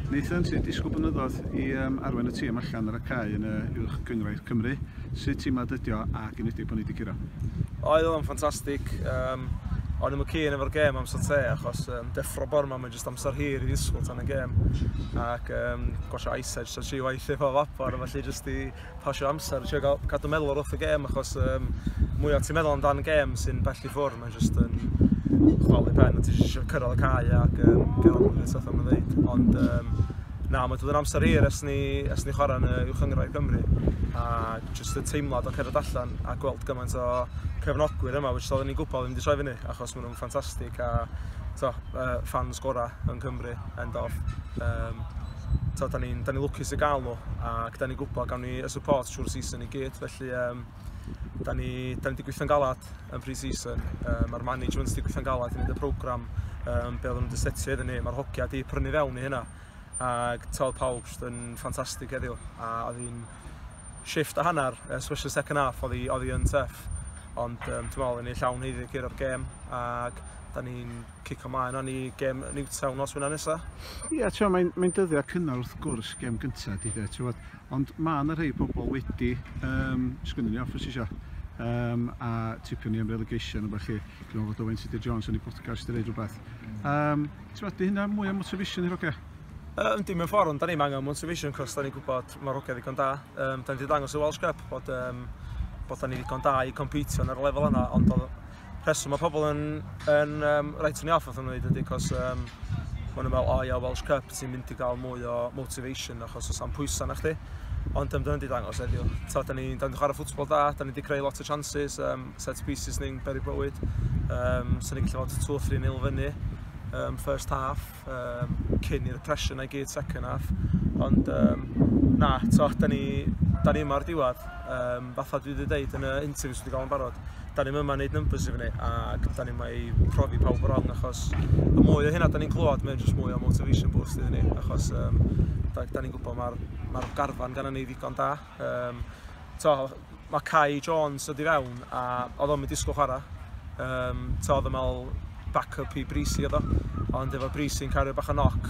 Nathan, ti'n disgwyl blynyddoedd i um, arwen y tîm allan ar y cae yn y uwch gyngrair Cymru. Sut tîm nad ydio ac yn ydig bod ni wedi giro? Oedd o'n ffantastig. Um, o'n i'n cyn efo'r gêm amser te achos um, deffro bor yma mae'n jyst amser hir i ddisgwyl tan y gêm ac um, gosio ice edge so tri waith efo vapor a felly jyst i pasio amser, trio gael, cadw meddwl ar wrth y gêm, achos um, mwyaf ti'n meddwl amdan gêm sy'n bell i ffwrdd, mae'n just yn chwalu pen, a ti'n eisiau cyrraedd y cae ac um, gael hwn yn sethon yn ddeud. Ond um, na, mae dod yn amser hir ers ni, ers ni chwarae yn y uwch yngrau Cymru, a just y teimlad o cerdded allan a gweld gymaint o cefnogwyr yma, which oedden ni'n gwybod ddim wedi troi fyny, achos maen nhw'n ffantastig, a to, uh, fans gorau yn Cymru, end of. Um, t'od 'dan ni'n 'dan ni'n lwcus i ga'l nhw ac 'dan ni'n gwybod gawn ni y support trwy'r season i gyd felly yym 'dan ni 'dan ni 'di gweithio'n galad yn pre-season yym ma'r management 'di gweithio'n galad i neud y program yym be' oedden nhw 'di setio iddyn ni ma'r hogia 'di prynu fewn i hynna ag t'od pawb jyst yn ffantastig heddiw a oedd hi'n shift a hanner especially second half oedd hi oedd hi yn tuff ond yym dwi me'wl o'n ni llawn haeddu i gyrra'r gêm ag 'dan ni'n cico mlaen rwan i gem Newtown nos Wener nesa. Ia, ti'n mae'n mae dyddiau cynnar wrth gwrs gem gyntaf di de, ti'n ond mae yna rhai pobl wedi, um, sgwnnwn ni off os eisiau, um, a tipio ni am relegation o bach chi, dwi'n meddwl fod Owen City Jones yn ei podcast i ddeud rhywbeth. Um, ti'n di hynna mwy o motivation i'r oge? Um, dim yn ffordd, ond da ni'n angen motivation, cos da ni'n gwybod mae'r oge ddigon da. Um, da ni wedi dangos y Welsh Cup bod, um, bod da ni ddigon da i competio ar y lefel yna, ond rheswm mae pobl yn, yn um, rhaid ni off wrth ymwneud ydy, cos um, maen nhw'n meddwl, o ia, Welsh Cup, ti'n mynd i gael mwy o motivation achos os am pwysau na chdi. Ond um, dyna di dangos eddiw. Ta, da ni'n ni chwarae ffwtsbol da, da ni wedi creu lot o chances, um, set pieces ni'n beri bywyd. Um, so ni'n gallu fod 2-3 nil fyny, um, first half. Cup um, cyn i'r pressure na i gyd second half. Ond um, na, to, da ni, da ni yma'r diwedd. Um, fatha dwi wedi dweud yn y interview sydd wedi gael yn barod, da ni'n yma wneud numbers i fyny ac da ni'n mae profi pawb o'r rong achos y mwy o hynna da ni'n clywed mae'n jyst mwy o motivation boost iddyn ni achos um, da, da ni'n gwybod mae'r ma garfan gan ni ddigon da Um, to, mae Kai Jones dod i fewn a oedd o'n mynd disgwyl chwarae. Um, to, oedd o'n meddwl back-up i Brisi oedd o. Ond efo Brisi'n cario bach o noc,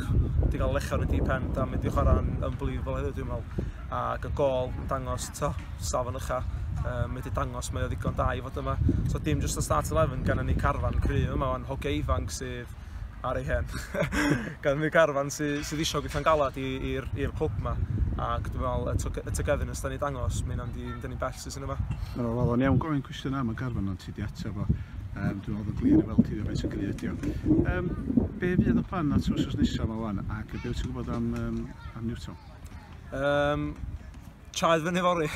di gael lecho yn y deep end a mynd i chwarae'n unbelievable heddiw dwi'n meddwl. Ac y gol yn dangos, to, safon ycha, um, wedi dangos mae o ddigon da i fod yma. So dim just o start 11 gan ni carfan cry yma, ond hoge ifanc sydd ar ei hen. Gan y carfan sydd sy eisiau gweithio'n galad i'r clwb yma. Ac dwi'n meddwl, y, y togetherness da ni dangos, mae hynna'n dyn ni'n bell sy'n yma. Mae'n o'r lawn iawn. Gofyn cwestiwn am y garfan ond ti di ateb fo. Um, dwi'n meddwl yn glir i weld ti faint o gry ydi o. Um, be fydd y plan at wrsos nesaf yma wan ac be wyt ti'n gwybod am, um, am Newton? Um, Chaed fyny fori.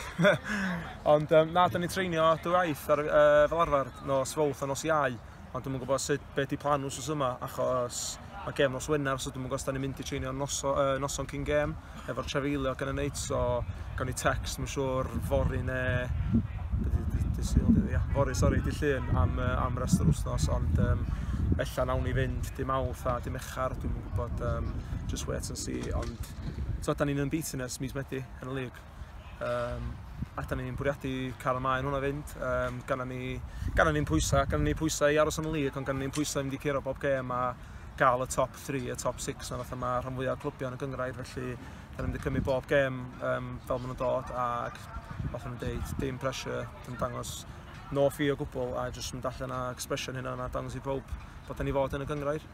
Ond um, na, da ni'n treinio dwy aeth ar, uh, fel arfer, nos fawth a nos iau. Ond dwi'n gwybod sut be ydi plan nhw sos yma, achos mae gêm nos Wener, so dwi'n mwyn gos da ni'n mynd i treinio noso, uh, noson cyn gêm, efo'r trefeilio gan y neit, so gawn ni text, mae'n siŵr, fori ne... Ia, fori, sori, di llun am, uh, am rest yr wythnos, ond um, ella nawn ni fynd dim awth a dim echar, dwi'n mwyn gwybod, um, just wait and see, ond... So, da ni'n unbeaten ers mis Medi yn y lig. Um, a da ni'n bwriadu cael y maen hwnna fynd. Um, gan ni, gan ni'n pwysau, gan ni pwysau i aros yn y lig, ond gan ni'n pwysau i fynd i curo bob gêm a gael y top 3, y top 6 na fatha mae rhan fwyaf o clybion y gyngrair, felly da ni'n cymryd bob gêm um, fel maen nhw'n dod ac fatha nhw'n deud, dim pressure, dim dangos no fi o gwbl a jyst mynd allan ag expression hynna a dangos i bawb bod ni fod yn y gyngrair.